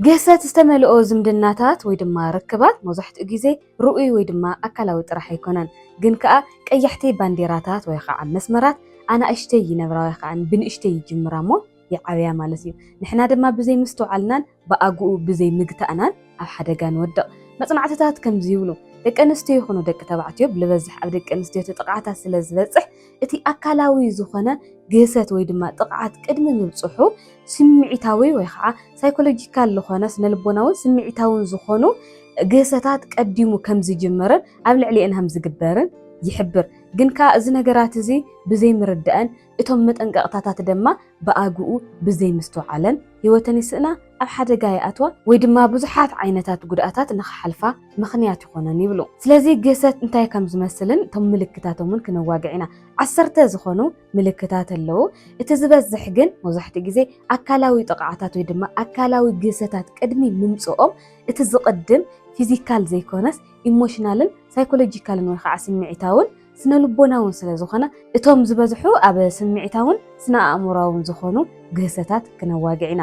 ግህሰት ዝተመልኦ ዝምድናታት ወይ ድማ ርክባት መብዛሕትኡ ግዜ ርኡይ ወይ ድማ ኣካላዊ ጥራሕ ኣይኮነን፣ ግን ከኣ ቀያሕቲ ባንዴራታት ወይ ኸዓ መስመራት ኣናእሽተይ ይነብራ ወይ ኸዓ ብንእሽተይ ይጅምራ እሞ ይዓብያ ማለት እዩ። ንሕና ድማ ብዘይ ምስትውዓልናን ብኣግኡ ብዘይ ምግታእናን ኣብ ሓደጋ ንወድቕ። መጽናዕትታት ከምዚ ይብሉ፣ ደቂ ኣንስትዮ ይኹኑ ደቂ ተባዕትዮ ብልበዝሕ ኣብ ደቂ ኣንስትዮ እቲ ጥቕዓታት ስለ ዝበጽሕ፣ እቲ ኣካላዊ ዝኾነ ግህሰት ወይ ድማ ጥቕዓት ቅድሚ ምብጽሑ ስምዒታዊ ወይ ኸዓ ሳይኮሎጂካል ዝኾነ ስነልቦናውን ስምዒታውን ዝኾኑ ግህሰታት ቀዲሙ ከም ዝጅምርን ኣብ ልዕሊኤን ከም ዝግበርን ይሕብር። ግን ከኣ እዚ ነገራት እዚ ብዘይምርዳእን እቶም መጠንቀቕታታት ደማ ብኣግኡ ብዘይምስትውዓለን፣ ህይወተን ይስእና፣ ኣብ ሓደጋ ይኣትዋ ወይ ድማ ብዙሓት ዓይነታት ጉድኣታት ንኽሓልፋ ምኽንያት ይኾነን ይብሉ። ስለዚ ግህሰት እንታይ ከም ዝመስልን እቶም ምልክታቶምን ክነዋግዕ ኢና። ዓሰርተ ዝኾኑ ምልክታት ኣለዉ። እቲ ዝበዝሕ ግን መብዛሕትኡ ግዜ ኣካላዊ ጥቕዓታት ወይ ድማ ኣካላዊ ግህሰታት ቅድሚ ምምጽኦም እቲ ዝቕድም ፊዚካል ዘይኮነስ ኢሞሽናልን ሳይኮሎጂካልን ወይ ኸዓ ስምዒታውን ስነ ልቦናውን ስለ ዝኾነ እቶም ዝበዝሑ ኣብ ስምዒታውን ስነ ኣእምሮኣውን ዝኾኑ ግህሰታት ክነዋግዕ ኢና።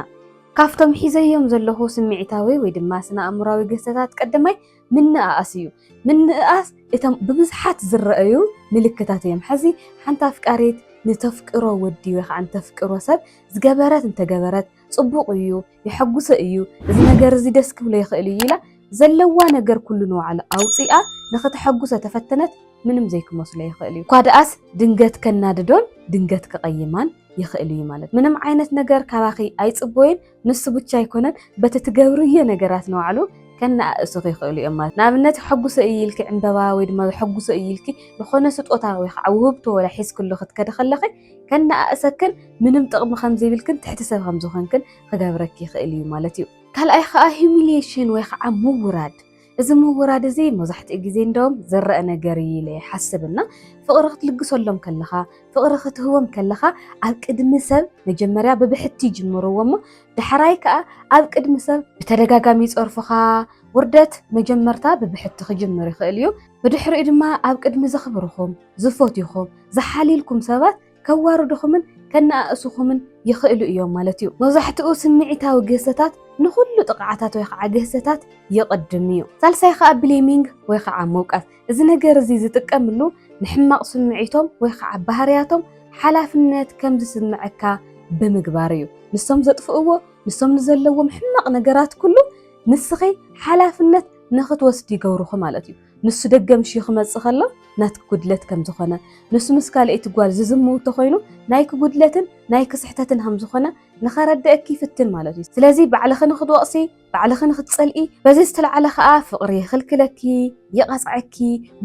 ካብቶም ሒዘዮም ዘለኹ ስምዒታዊ ወይ ድማ ስነ ኣእምሮኣዊ ግህሰታት ቀደማይ ምንእኣስ እዩ። ምንእኣስ እቶም ብብዝሓት ዝረኣዩ ምልክታት እዮም። ሐዚ ሓንቲ ኣፍቃሪት ንተፍቅሮ ወዲ ወይ ከዓ ንተፍቅሮ ሰብ ዝገበረት እንተገበረት፣ ጽቡቕ እዩ፣ የሐጉሰ እዩ፣ እዚ ነገር እዚ ደስ ክብሎ ይኽእል እዩ ኢላ ዘለዋ ነገር ኩሉ ንባዕሉ ኣውጺኣ ንኽተሐጉሰ ተፈተነት ምንም ዘይክመስሎ ይኽእል እዩ። እኳ ደኣስ ድንገት ከናድዶን ድንገት ክቐይማን ይኽእል እዩ ማለት ምንም ዓይነት ነገር ካባኺ ኣይጽበዩን፣ ንሱ ብቻ ኣይኮነን በቲ ትገብርዮ ነገራት ንባዕሉ ከነኣእሱኺ ይኽእሉ እዮም ማለት ንኣብነት ሕጉሰ እዩ ኢልኪ ዕምበባ ወይ ድማ ሕጉሰ እዩ ኢልኪ ዝኾነ ስጦታ ወይ ከዓ ውህብቶ ወላ ሒዝክሉ ክትከዲ ከለኺ ከነኣእሰክን ምንም ጥቕሚ ከም ዘይብልክን ትሕቲ ሰብ ከም ዝኾንክን ክገብረኪ ይኽእል እዩ ማለት እዩ። ካልኣይ ከዓ ሂሚሊሽን ወይ ከዓ ምውራድ እዚ ምውራድ እዚ መብዛሕትኡ ግዜ እንደውም ዝረአ ነገር እዩ ኢለ ይሓስብ እና ፍቕሪ ክትልግሰሎም ከለኻ ፍቕሪ ክትህቦም ከለኻ ኣብ ቅድሚ ሰብ መጀመርያ ብብሕቲ ይጅምርዎ እሞ ዳሕራይ ከዓ ኣብ ቅድሚ ሰብ ብተደጋጋሚ ይፀርፉኻ ውርደት መጀመርታ ብብሕቲ ክጅምር ይኽእል እዩ ብድሕሪኡ ድማ ኣብ ቅድሚ ዘኽብርኹም ዝፈትዩኹም፣ ዝሓልዩልኩም ሰባት ከዋርዱኹምን ከነኣእሱኹምን ይኽእሉ እዮም ማለት እዩ። መብዛሕትኡ ስምዒታዊ ግህሰታት ንኹሉ ጥቕዓታት ወይ ኸዓ ግህሰታት ይቕድም እዩ። ሳልሳይ ኸዓ ብሌሚንግ ወይ ኸዓ ምውቃስ። እዚ ነገር እዚ ዝጥቀምሉ ንሕማቕ ስምዒቶም ወይ ኸዓ ባህርያቶም ሓላፍነት ከም ዝስምዐካ ብምግባር እዩ። ንሶም ዘጥፍእዎ፣ ንሶም ንዘለዎም ሕማቕ ነገራት ኩሉ ንስኺ ሓላፍነት ንኽትወስዲ ይገብሩኺ ማለት እዩ። ንሱ ደገ ምሽዩ ክመጽእ ከሎ ናትኪ ጉድለት ከም ዝኾነ ንሱ ምስ ካልኣይቲ ጓል ዝዝምው ተኾይኑ ናይኪ ጉድለትን ናይኪ ስሕተትን ከም ዝኾነ ንኸረድእኪ ይፍትን ማለት እዩ። ስለዚ ባዕልኺ ንክትወቕሲ ባዕልኺ ንክትጸልኢ በዚ ዝተላዕለ ከኣ ፍቕሪ ይኽልክለኪ፣ ይቐጽዐኪ፣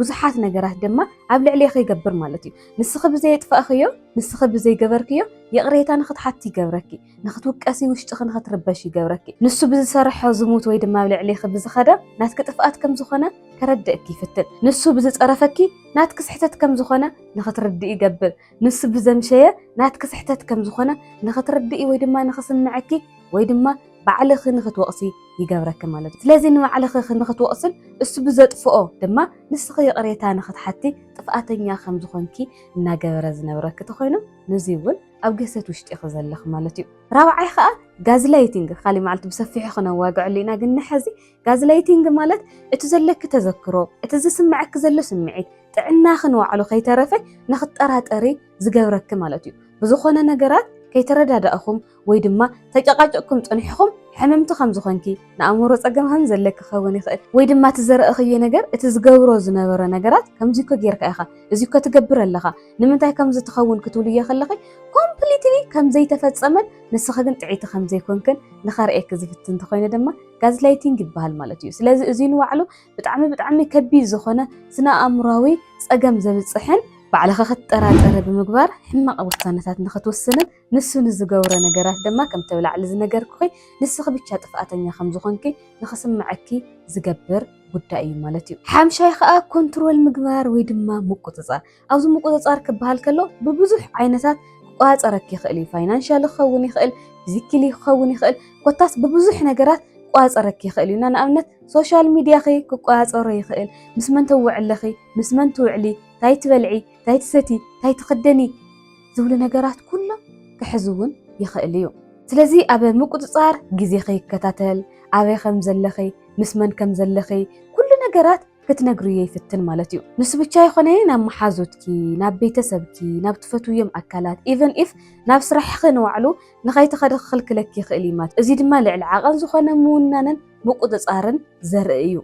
ብዙሓት ነገራት ድማ ኣብ ልዕሌኺ ይገብር ማለት እዩ። ንስኺ ብዘየጥፋእኽዮ ንስኺ ብዘይገበርክዮ ይቕሬታ ንክትሓቲ ይገብረኪ። ንኽትውቀሲ ውሽጥኺ ንኽትርበሽ ይገብረኪ። ንሱ ብዝሰርሖ ዝሙት ወይ ድማ ኣብ ልዕሌኺ ብዝኸደ ናትኪ ጥፍኣት ከም ዝኾነ ከረድእኪ ይፍትን። ንሱ ብዝጸረፈኪ ናትኪ ስሕተት ከም ዝኾነ ንኽትርድኢ ይገብር። ንሱ ብዘምሸየ ናትኪ ስሕተት ከም ዝኾነ ንኽትርድኢ ወይ ድማ ንኽስምዐኪ ወይ ድማ ባዕልኺ ንኽትወቕሲ ይገብረኪ ማለት እዩ። ስለዚ ንባዕልኺ ንኽትወቕስን እሱ ብዘጥፍኦ ድማ ንስኺ ይቕሬታ ንኽትሓቲ ጥፍኣተኛ ከም ዝኾንኪ እናገበረ ዝነብረኪ ተኾይኑ ንዙይ እውን ኣብ ገሰት ውሽጢ ኢኺ ዘለኺ ማለት እዩ። ራብዓይ ከዓ ጋዝላይቲንግ ካሊእ መዓልቲ ብሰፊሑ ክነዋግዐሉ ኢና ግን ንሐዚ ጋዝላይቲንግ ማለት እቲ ዘለኪ ተዘክሮ እቲ ዝስመዐኪ ዘሎ ስምዒት ጥዕናኺ ንባዕሉ ከይተረፈ ንክትጠራጠሪ ዝገብረኪ ማለት እዩ። ብዝኾነ ነገራት ከይተረዳዳእኹም ወይ ድማ ተጨቃጭቅኩም ፀኒሕኹም ሕምምቲ ከምዝኾንኪ ንኣእምሮ ጸገም ከም ዘለ ክኸውን ይኽእል። ወይ ድማ እቲ ዘረእኽዮ ነገር እቲ ዝገብሮ ዝነበረ ነገራት ከምዚ እኮ ጌርካ ኢኻ፣ እዚ እኮ ትገብር ኣለኻ፣ ንምንታይ ከምዚ ትኸውን ክትብልዮ ከለኺ ኮምፕሊትሊ ከም ዘይተፈጸመን ንስኺ ግን ጥዕይቲ ከም ዘይኮንክን ንኸርእየኪ ዝፍትን እንተኾይኑ ድማ ጋዝላይቲንግ ይበሃል ማለት እዩ። ስለዚ እዚ ንባዕሉ ብጣዕሚ ብጣዕሚ ከቢድ ዝኾነ ስነ ኣእምሮኣዊ ጸገም ዘብጽሕን ባዕልኺ ክትጠራጠሪ ብምግባር ሕማቕ ውሳነታት ንኽትውስንን ንሱ ንዝገብሮ ነገራት ድማ ከምቲ ኣብ ላዕሊ ዝነገርኩኺ ንስኺ ብቻ ጥፍኣተኛ ከም ዝኾንኪ ንኽስምዐኪ ዝገብር ጉዳይ እዩ ማለት እዩ። ሓምሻይ ኸኣ ኮንትሮል ምግባር ወይ ድማ ምቁጽጻር። ኣብዚ ምቁጽጻር ክበሃል ከሎ ብብዙሕ ዓይነታት ክቆጻጸረኪ ይኽእል እዩ። ፋይናንሻሊ ክኸውን ይኽእል፣ ፊዚክሊ ክኸውን ይኽእል፣ ኮታስ ብብዙሕ ነገራት ክቆጻጸረኪ ይኽእል እዩ እና ንኣብነት ሶሻል ሚድያኺ ክቆጻጸሮ ይኽእል፣ ምስ መን ተወዕለኺ፣ ምስ መን ትውዕሊ፣ ታይ ትበልዒ፣ ታይ ትሰቲ፣ ታይ ትኽደኒ፣ ዝብሉ ነገራት ኩሎም ክሕዝ እውን ይኽእል እዩ። ስለዚ ኣብ ምቁጽጻር ግዜኺ ክከታተል፣ ኣበይ ከም ዘለኺ፣ ምስ መን ከም ዘለኺ ኩሉ ነገራት ክትነግርዮ ይፍትን ማለት እዩ። ንሱ ብቻ ኣይኾነ ናብ መሓዙትኪ፣ ናብ ቤተሰብኪ፣ ናብ ትፈትውዮም ኣካላት ኢቨን ኢፍ ናብ ስራሕኺ ንባዕሉ ንኸይትኸዲ ክኽልክለኪ ይኽእል እዩ ማለት እዩ። እዚ ድማ ልዕሊ ዓቐን ዝኾነ ምውናንን ምቁጽጻርን ዘርኢ እዩ።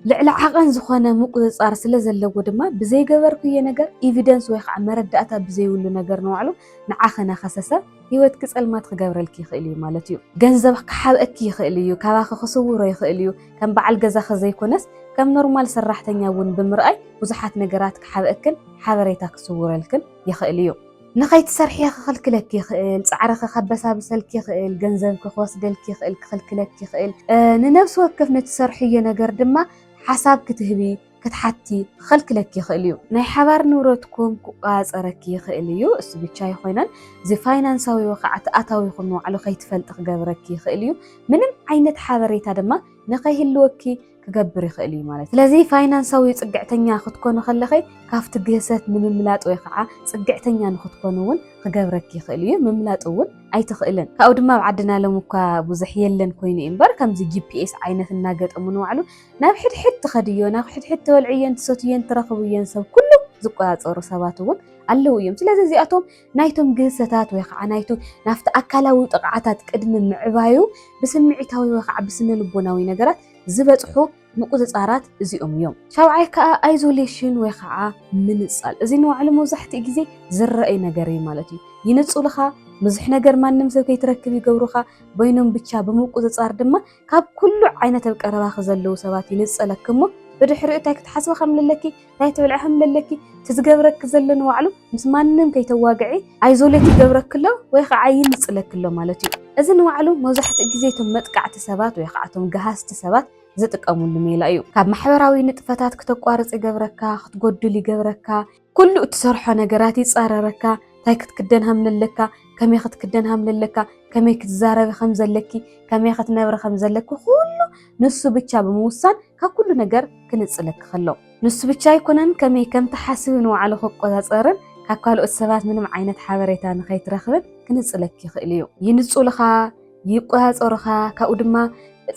ልዕሊ ዓቐን ዝኾነ ምቁጽጻር ስለ ዘለዎ ድማ ብዘይገበርኩዬ ነገር ኢቪደንስ ወይ ኸዓ መረዳእታ ብዘይብሉ ነገር ንባዕሉ ንዓኺ ናኸሰሰ ህይወትኪ ጸልማት ክገብረልኪ ይኽእል እዩ ማለት እዩ። ገንዘብ ክሓብኣኪ ይኽእል እዩ፣ ካባኺ ክስውሮ ይኽእል እዩ፣ ከም በዓል ገዛኺ ዘይኮነስ ከም ኖርማል ሰራሕተኛ እውን ብምርኣይ ብዙሓት ነገራት ክሓብኣክን ሓበሬታ ክስውረልክን ይኽእል እዩ። ንኸይትሰርሒ ክኽልክለኪ ይኽእል፣ ጻዕርኺ ከበሳብሰልኪ ይኽእል፣ ገንዘብኪ ክወስደልኪ ይኽእል፣ ክኽልክለኪ ይኽእል፣ ንነብሲ ወከፍ ንትሰርሕዮ ነገር ድማ ሓሳብ ክትህቢ፣ ክትሓቲ፣ ክኽልክለኪ ይኽእል እዩ። ናይ ሓባር ንብረትኩም ክቆጻጸረኪ ይኽእል እዩ፣ እሱ ብቻ ኣይኾነን እዚ ፋይናንሳዊ ወኻዕቲ ኣታዊኹም ንባዕሉ ከይትፈልጢ ክገብረኪ ይኽእል እዩ፣ ምንም ዓይነት ሓበሬታ ድማ ንኸይህልወኪ፣ ክገብር ይኽእል እዩ ማለት ስለዚ ፋይናንሳዊ ፅግዕተኛ ክትኮኑ ከለኺ ካብቲ ግህሰት ንምምላጥ ወይ ከዓ ፅግዕተኛ ንክትኮኑ እውን ክገብረኪ ይኽእል እዩ ምምላጥ እውን ኣይትኽእልን ካብኡ ድማ ኣብ ዓድና ሎም እኳ ብዙሕ የለን ኮይኑ እዩ እምበር ከምዚ ጂፒኤስ ዓይነት እናገጠሙ ንባዕሉ ናብ ሕድሕድ ትኸድዮ ናብ ሕድሕድ ተወልዕዮን ትሰትዮን ትረኽብዮን ሰብ ኩሉ ዝቆፃፀሩ ሰባት እውን ኣለዉ እዮም ስለዚ እዚኣቶም ናይቶም ግህሰታት ወይ ከዓ ናይቶም ናብቲ ኣካላዊ ጥቕዓታት ቅድሚ ምዕባዩ ብስምዒታዊ ወይ ከዓ ብስነ ልቦናዊ ነገራት ዝበፅሑ ምቁፅፃራት እዚኦም እዮም። ሻብዓይ ከዓ ኣይዞሌሽን ወይ ከዓ ምንፃል እዚ ንባዕሉ መብዛሕትኡ ግዜ ዝረኣይ ነገር እዩ ማለት እዩ። ይንፁልኻ፣ ብዙሕ ነገር ማንም ሰብ ከይትረክብ ይገብሩኻ፣ በይኖም ብቻ ብምቁፅፃር ድማ ካብ ኩሉ ዓይነት ኣብ ቀረባኺ ዘለዉ ሰባት ይንፀለኪ እሞ ብድሕሪኡ እንታይ ክትሓስቢ ከም ለለኪ እንታይ ትብል ዕሕም ለለኪ እቲ ዝገብረኪ ዘሎ ንባዕሉ ምስ ማንም ከይተዋግዒ ኣይዞሌት ይገብረኪ ኣሎ ወይ ከዓ ይንፅለኪ ኣሎ ማለት እዩ። እዚ ንባዕሉ መብዛሕትኡ ግዜ እቶም መጥቃዕቲ ሰባት ወይ ከዓ እቶም ገሃስቲ ሰባት ዝጥቀምሉ ሜላ እዩ። ካብ ማሕበራዊ ንጥፈታት ክተቋርፅ ይገብረካ፣ ክትጎድል ይገብረካ፣ ኩሉ እትሰርሖ ነገራት ይፃረረካ፣ እንታይ ክትክደን ሃምለለካ፣ ከመይ ክትክደን ሃምለለካ፣ ከመይ ክትዛረቢ ከምዘለኪ፣ ከመይ ክትነብሪ ከምዘለኪ ኩሉ ንሱ ብቻ ብምውሳን ካብ ኩሉ ነገር ክንጽለኪ ከሎ ንሱ ብቻ ኣይኮነን ከመይ ከም ትሓስቢ ንባዕሉ ክቆጻጸርን ካብ ካልኦት ሰባት ምንም ዓይነት ሓበሬታ ንኸይትረኽብን ክንጽለኪ ይኽእል እዩ። ይንጹልኻ፣ ይቆጻጸሩኻ፣ ካብኡ ድማ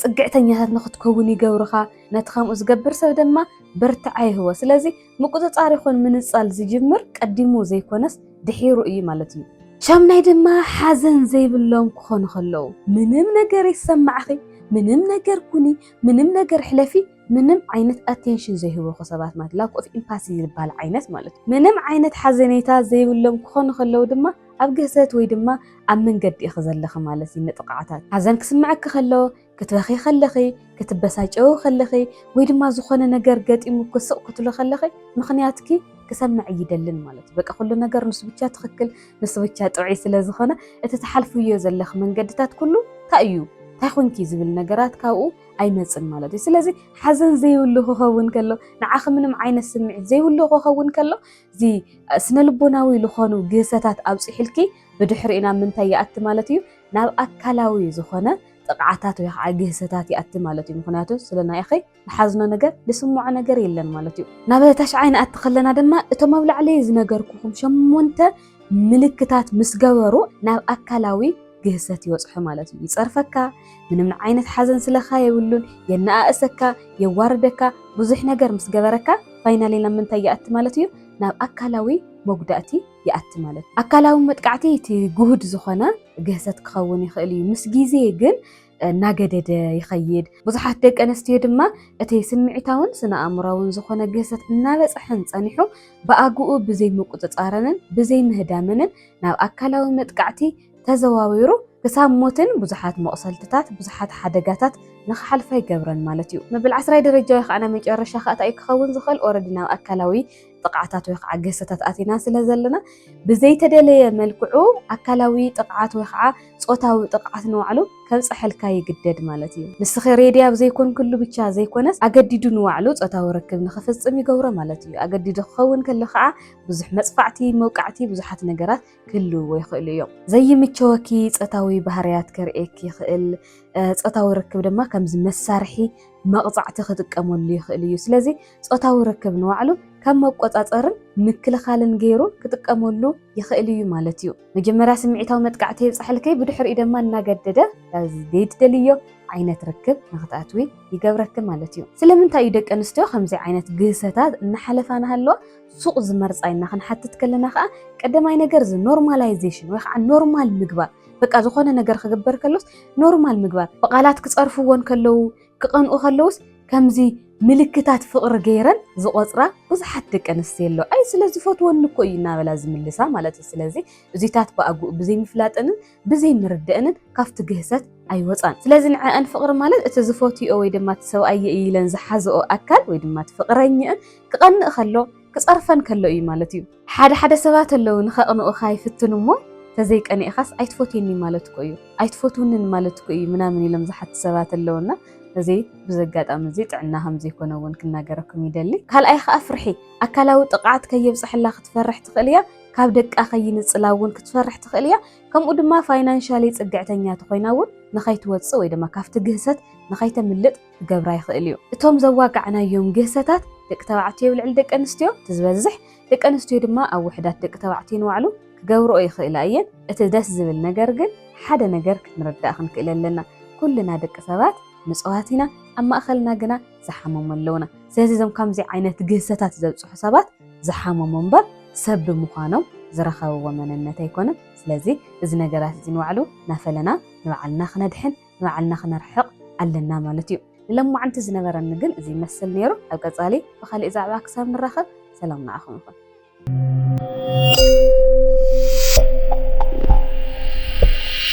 ጽግዕተኛታት ንኽትከውን ይገብሩኻ። ነቲ ከምኡ ዝገብር ሰብ ድማ ብርትዓ ይህቦ። ስለዚ ምቁጽጻር ይኹን ምንጻል ዝጅምር ቀዲሙ ዘይኮነስ ድሒሩ እዩ ማለት እዩ። ሻምናይ ድማ ሓዘን ዘይብሎም ክኾኑ ከለዉ፣ ምንም ነገር ይሰማዕኺ፣ ምንም ነገር ኩኒ፣ ምንም ነገር ሕለፊ፣ ምንም ዓይነት ኣቴንሽን ዘይህቡኺ ሰባት ማለት ላክ ኦፍ ኢምፓሲ ዝበሃል ዓይነት ማለት እዩ። ምንም ዓይነት ሓዘኔታ ዘይብሎም ክኾኑ ከለዉ ድማ ኣብ ግህሰት ወይ ድማ ኣብ መንገዲ ኢኺ ዘለኺ ማለት እዩ ንጥቕዓታት። ሓዘን ክስምዐኪ ከሎ ክትበኺ ከለኺ፣ ክትበሳጨዊ ከለኺ፣ ወይ ድማ ዝኾነ ነገር ገጢሙኪ ስቕ ክትብሊ ከለኺ ምኽንያትኪ ክሰምዕ ኣይደልን ማለት እዩ። በቃ ኩሉ ነገር ንሱ ብቻ ትኽክል፣ ንሱ ብቻ ጥዑይ ስለ ዝኾነ እቲ ትሓልፍዮ ዘለኺ መንገድታት ኩሉ እንታይ እዩ እንታይ ኮንኪ ዝብል ነገራት ካብኡ ኣይመፅን ማለት እዩ ስለዚ ሓዘን ዘይብሉ ክኸውን ከሎ ንዓኺ ምንም ዓይነት ስምዒት ዘይብሉ ክኸውን ከሎ እዚ ስነ ልቦናዊ ዝኾኑ ግህሰታት ኣብፂሕልኪ ብድሕሪኡ ናብ ምንታይ ይኣቲ ማለት እዩ ናብ ኣካላዊ ዝኾነ ጥቕዓታት ወይ ከዓ ግህሰታት ይኣቲ ማለት እዩ። ምክንያቱ ስለ ናይ ኣኸይ ዝሓዝኖ ነገር ዝስምዖ ነገር የለን ማለት እዩ። ናብ ታሽዓይ ንኣቲ ከለና ድማ እቶም ኣብ ላዕሊ ዝነገርኩኹም ሸሞንተ ምልክታት ምስ ገበሩ ናብ ኣካላዊ ግህሰት ይበፅሑ ማለት እዩ። ይፀርፈካ፣ ምንም ዓይነት ሓዘን ስለካ የብሉን፣ የነኣእሰካ፣ የዋርደካ፣ ብዙሕ ነገር ምስ ገበረካ ፋይናሊ ናብ ምንታይ ይኣቲ ማለት እዩ ናብ ኣካላዊ መጉዳእቲ ይኣቲ ማለት እዩ። ኣካላዊ መጥቃዕቲ እቲ ግሁድ ዝኾነ ግህሰት ክኸውን ይኽእል እዩ፣ ምስ ግዜ ግን እናገደደ ይኸይድ። ብዙሓት ደቂ ኣንስትዮ ድማ እቲ ስምዒታውን ስነ-ኣእምሮኣውን ዝኾነ ግህሰት እናበጽሐን ጸኒሑ ብኣግኡ ብዘይምቁጽጻረንን ብዘይምህዳመንን ናብ ኣካላዊ መጥቃዕቲ ተዘዋዊሩ ክሳብ ሞትን ብዙሓት መቑሰልትታት ብዙሓት ሓደጋታት ንኽሓልፋ ይገብረን ማለት እዩ። መበል ዓስራይ ደረጃ ወይ ኸኣ ናይ መጨረሻ ኸኣ እንታይ እዩ ክኸውን ዝኽእል ኦረዲ ናብ ኣካላዊ ጥቕዓታት ወይ ከዓ ገሰታት ኣቲና ስለ ዘለና ብዘይተደለየ መልክዑ ኣካላዊ ጥቕዓት ወይ ከዓ ፆታዊ ጥቕዓት ንባዕሉ ከብፀሐልካ ይግደድ ማለት እዩ። ንስኺ ሬድያ ኣብ ዘይኮንክሉ ብቻ ዘይኮነስ ኣገዲዱ ንባዕሉ ፆታዊ ርክብ ንኽፍፅም ይገብሮ ማለት እዩ። ኣገዲዱ ክኸውን ከሎ ከዓ ብዙሕ መፅፋዕቲ፣ መውቃዕቲ፣ ብዙሓት ነገራት ክህልውዎ ይኽእሉ እዮም። ዘይምቸወኪ ጾታዊ ባህርያት ከርእየኪ ይኽእል፣ ጾታዊ ርክብ ድማ ከምዚ መሳርሒ መቕጻዕቲ ክጥቀመሉ ይኽእል እዩ። ስለዚ ጾታዊ ርክብ ንባዕሉ ከም መቆጻጸርን ምክልኻልን ገይሩ ክጥቀመሉ ይኽእል እዩ ማለት እዩ። መጀመርያ ስምዒታዊ መጥቃዕቲ የብጻሕልኪ፣ ብድሕሪኡ ድማ እናገደደ ዘይትደልዮ ዓይነት ርክብ ንኽትኣትዊ ይገብረኪ ማለት እዩ። ስለምንታይ እዩ ደቂ ኣንስትዮ ከምዚ ዓይነት ግህሰታት እናሓለፋ እናሃለዋ ሱቕ ዝመርጻ ኢልና ክንሓትት ከለና ከኣ ቀደማይ ነገር እዚ ኖርማላይዜሽን ወይ ከዓ ኖርማል ምግባር በቃ ዝኾነ ነገር ክግበር ከሎስ ኖርማል ምግባር ብቓላት ክጸርፍዎን ከለዉ ክቐንኡ ከለዉስ ከምዚ ምልክታት ፍቕሪ ገይረን ዝቖጽራ ብዙሓት ደቂ ኣንስትዮ ኣለዋ። ኣይ ስለዝፈትወኒ እኮ እዩ እናበላ ዝምልሳ ማለት እዩ። ስለዚ እዚታት ብኣግኡ ብዘይምፍላጠንን ብዘይ ምርደእንን ካብቲ ግህሰት ኣይወጻን። ስለዚ ንዐኣን ፍቕሪ ማለት እቲ ዝፈትይኦ ወይ ድማ እቲ ሰብኣየይ ኢለን ዝሓዝኦ ኣካል ወይ ድማ እቲ ፍቕረኝእን ክቐንእ ከሎ ክጸርፈን ከሎ እዩ ማለት እዩ። ሓደ ሓደ ሰባት ኣለዉ ንኸቕንኡኻ ይፍትኑ እሞ ተዘይቀኒእኻስ ኣይትፈትየኒን ማለት እኮ እዩ፣ ኣይትፈትውንን ማለት እኮ እዩ ምናምን ኢሎም ዝሓቱ ሰባት ኣለዉ እና እዚ ብዚ ኣጋጣሚ እዚ ጥዕና ከም ዘይኮነ እውን ክናገረኩም ይደሊ። ካልኣይ ኸኣ ፍርሒ፣ ኣካላዊ ጥቕዓት ከየብጽሐላ ክትፈርሕ ትኽእል እያ። ካብ ደቃ ከይንጽላ እውን ክትፈርሕ ትኽእል እያ። ከምኡ ድማ ፋይናንሻሊ ጽግዕተኛ ተኾይና እውን ንኸይትወጽእ ወይ ድማ ካብቲ ግህሰት ንኸይተምልጥ ክገብራ ይኽእል እዩ። እቶም ዘዋጋዕናዮም ግህሰታት ደቂ ተባዕትዮ ኣብ ልዕሊ ደቂ ኣንስትዮ እቲ ዝበዝሕ፣ ደቂ ኣንስትዮ ድማ ኣብ ውሕዳት ደቂ ተባዕትዮ ንባዕሉ ክገብርኦ ይኽእላ እየን። እቲ ደስ ዝብል ነገር ግን ሓደ ነገር ክንርዳእ ክንክእል ኣለና። ኩልና ደቂ ሰባት ንጽዋት ኢና፣ ኣብ ማእኸልና ግና ዝሓመሙ ኣለዉና። ስለዚ እዞም ከምዚ ዓይነት ግህሰታት ዘብጽሑ ሰባት ዝሓመሙ እምበር ሰብ ብምዃኖም ዝረኸብዎ መንነት ኣይኮነን። ስለዚ እዚ ነገራት እዚ ንባዕሉ እናፈለና ንባዕልና ክነድሕን ንባዕልና ክነርሕቕ ኣለና ማለት እዩ። ንሎማዓንቲ ዝነበረኒ ግን እዚ ይመስል ነይሩ። ኣብ ቀፃሊ ብኻሊእ ዛዕባ ክሳብ ንራኸብ ሰላም ንዓኹም ይኹን።